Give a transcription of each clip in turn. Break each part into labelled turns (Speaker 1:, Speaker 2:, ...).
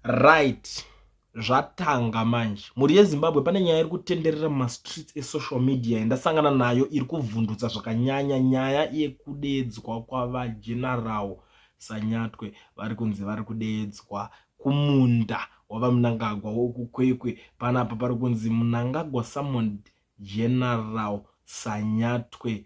Speaker 1: right zvatanga manje mhuri yezimbabwe pane nyaya iri kutenderera mumastreets esocial media yandasangana nayo iri kuvhundutsa zvakanyanya nyaya yekudeedzwa kwavajenarawo sanyatwe vari kunzi vari kudeedzwa kumunda wavamunangagwa wokukwekwe panapa pari kunzi munangagwa summoned general sanyatwe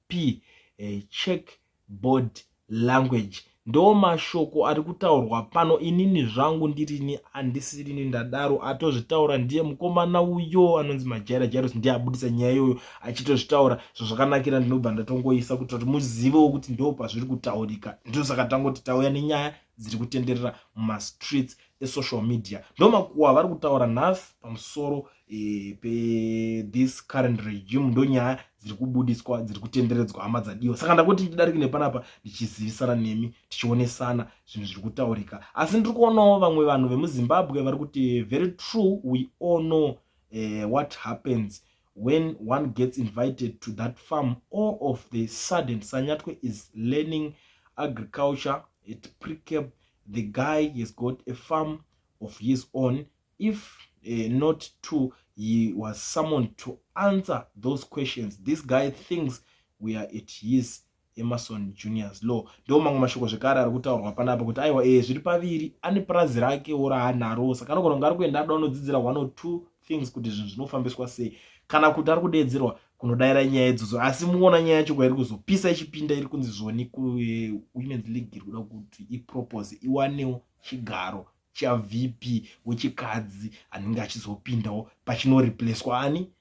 Speaker 1: p eh, check board language ndo mashoko ari kutaurwa pano inini zvangu ndirini andisirini ndadaro atozvitaura ndiye mukomana uyo anonzi majaira jairos ndiye abudisa nyaya iyoyo achitozvitaura zvazvakanakira ndinobva ndatongoisa kuita kuti muzivewo kuti ndo pazviri kutaurika ndosaka tangoti tauya nenyaya dziri kutenderera mumastreets esocial media ndomakuwa vari kutaura nhasi pamusoro e e, pe this current regime ndo nyaya dziri kubudiswa dziri kutenderedzwa hama dzadiwa saka ndakuti ndidariki nepanapa ndichizivisana nemi tichionesana zvinhu zviri kutaurika asi ndiri kuonawo vamwe vanhu vemuzimbabwe vari kuti very true we all know uh, what happens when one gets invited to that farm all of the sudden sanyatwe is learning agriculture at precap the guy has got a farm of his own if uh, not to he was summoned to answer those questions this guy thinks we are at his emerson juniors law ndo mamwe mashoko zvekare ari kutaurwa panapa kuti aiwa ee eh, zviri paviri ane purazi rake ora hanaro saka anogona kunge ari kuenda ada anodzidzira one or two things kuti zvinhu zvinofambiswa sei kana kuti ari kudeedzerwa kunodaira nyaya idzodzo asi muona nyaya yacho kwairi kuzopisa ichipinda iri kunzi zvoni kuwomens eh, league iri kuda kuti ipropose iwanewo chigaro chavp wechikadzi anenge achizopindawo pachinoreplacwa ani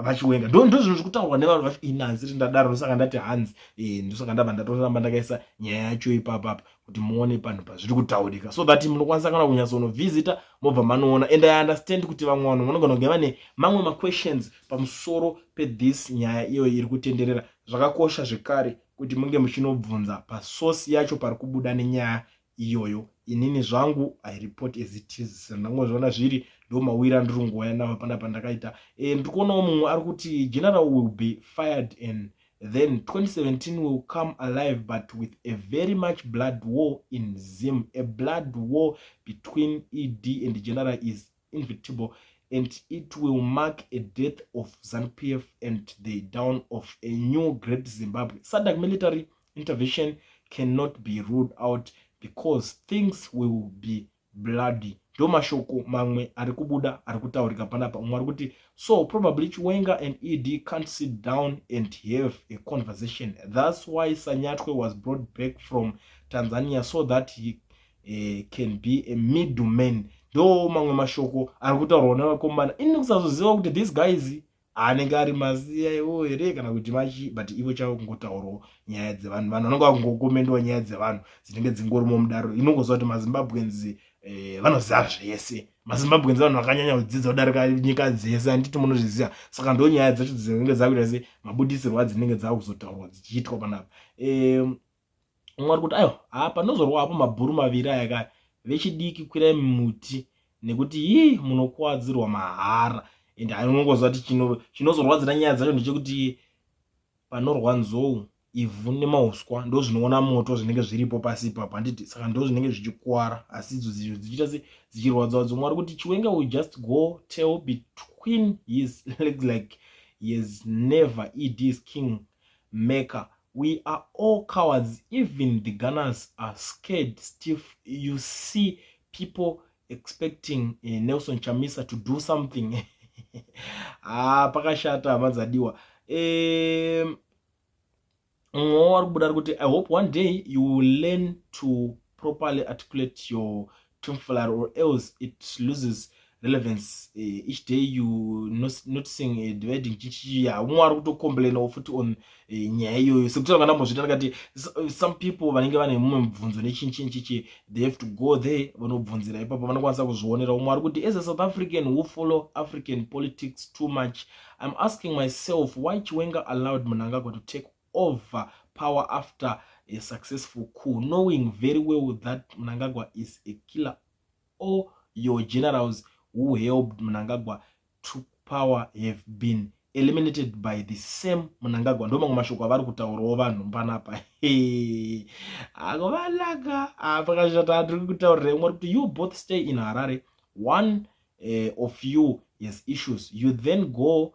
Speaker 1: vachiwenga ndo ndo zvinhu zvekutaurwa nevanhu vacho inanzi ti ndadaro ndosaka ndati hanzi e, ndosaka ndabva ndatoramba ndakaisa nyaya yacho ipapapa kuti muone panhu pazviri kutaurika so that munokwanisa kana kunyatsonovhizita mobva manoona and i understand kuti vamwe vanhu vanogona kunge vane mamwe maquestions pamusoro pethis nyaya iyoyo iri kutenderera zvakakosha zvekare kuti munge muchinobvunza pasource yacho pari kubuda nenyaya iyoyo inini zvangu i report as it is sendangozviona zviri ndomawira ndiri nguva yanava pana pandakaita e, eh, ndiri kuonawo mumwe ari kuti general will be fired and then 2017 will come alive but with a very much blood war in zim a blood war between ed and general is invitable and it will mark a death of zanpf and the down of a new great zimbabwe sadak military intervention cannot be ruled out because things will be bloody ndo mashoko mamwe ari kubuda ari kutaurika panapa umwe ari kuti so probably chiwenga and ed can't sit down and have a conversation thats why sanyatwe was brought back from tanzania so that he uh, can be a middleman ndo mamwe mashoko ari kutaurwa nevakomana ini kusazoziva kuti these guys anenge ari maziya iwo here kana kuti machi but ivo chavo kungotaurawo nyaya dzevanhu vanhu vanonga vakungokomendawo nyaya dzevanhu dzinenge dzingorimo mudaro inongoziva kuti mazimbabweans eh, vanoziva zvese mazimbabweans vanhu vakanyanya kudzidza kudarika nyika dzese handiti munozviziva saka ndo nyaya dzacho dzinenge dzakuita se mabudisirwo adzinenge dzakuzotaurwa dzichiitwa panapa eh, umwe ari kuti aiwa haa panozorwa hapo mabhuru maviri aya kaya vechidiki kwirai muti nekuti yii munokuwadzirwa mahara and anongoziva kuti chinozorwadzira nyaya dzacho ndechekuti panorwa nzou ivhu nemauswa ndo zvinoona moto zvinenge zviripo pasi ipapo handiti saka ndo zvinenge zvichikuwara asi idzo dzizvo dzichiita se dzichirwadzawa dzomwe ari kuti chiwenga will just go tell between his legs like he has never ed his king maker we are all cowards even the gunners are scared stiff you see people expecting uh, nelson chamisa to do something ah pakashata hama dzadiwa um mwowo wari kubuda ri kuti i hope one day you will learn to properly articulate your tomfoolery or else it loses relevance eh, each day you noticing eh, dividing chichiya haumwe ari kutocomplainawo futi on eh, nyaya iyoyo sekuti anga ndambozvita ndakati eh, some people vanenge vane mumwe mubvunzo nechinchinchichi they have to go there vanobvunzira ipapo vanokwanisa kuzvionera umwe ari kuti as a south african who follow african politics too much i'm asking myself why chiwenga allowed munangagwa to take over power after a successful coup knowing very well that mnangagwa is a killer all your generals who helped mnangagwa to power have been eliminated by the same munangagwa ndo mamwe mashoko avari kutaurawo vanhu panapa akovanaka apakashata ah, tiri kutaurira imwe kuti you both stay in harare one uh, of you has issues you then go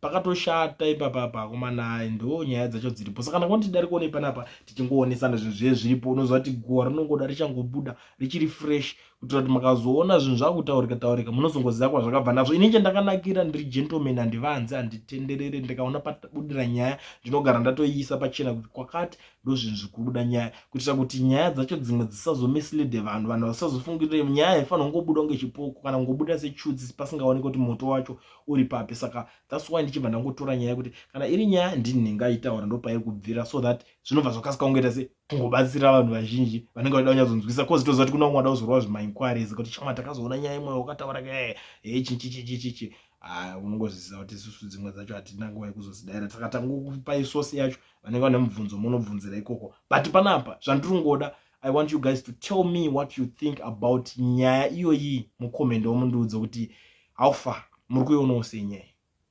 Speaker 1: pakatoshata ipapa apa akomana ndo nyaya dzacho dziripo saka ndangona tidari kuonei panapa tichingoonesana zvinhu zviye zviripo unoziva kuti guva rinongoda richangobuda richiri fresh kuitira kuti makazoona zvinhu zvakutaurika taurika munozongoziva kwazvakabva nazvo ini chandakanakira ndiri gentleman handivanzi handitenderere ndikaona pabudira nyaya ndinogara ndatoiisa pachena kuti kwakati ndo zvinhu zvikubuda nyaya kuitira kuti nyaya dzacho dzimwe dzisazomislide vanhu vanhu vasazofungirire nyaya haifanira kungobuda kunge chipoko kana kungobuda sechutsi pasingaoneke kuti moto wacho uri papi saka thats why ndichibva ndangotora nyaya yekuti kana iri nyaya ndini ndingaitaura ndopairi kubvira so that zvinobva zvakasika kungoita se kungobatsira vanhu vazhinji vanenge vachida kunyadzonzwisa coz toziva kuti kuna umwe ada kuzorwa zvimainquiries kuti chama takazoona nyaya imwe wakataura kae hee chichichichichichi ah, unongozviziva kuti isusu dzimwe dzacho hatina nguva yekuzozidaira saka tangokupai sosi yacho vanenge vane mubvunzo munobvunzira ikoko but panapa zvandiri kungoda i want you guys to tell me what you think about nyaya iyoyi mucomment omundiudza kuti how far muri kuionawo sei nyaya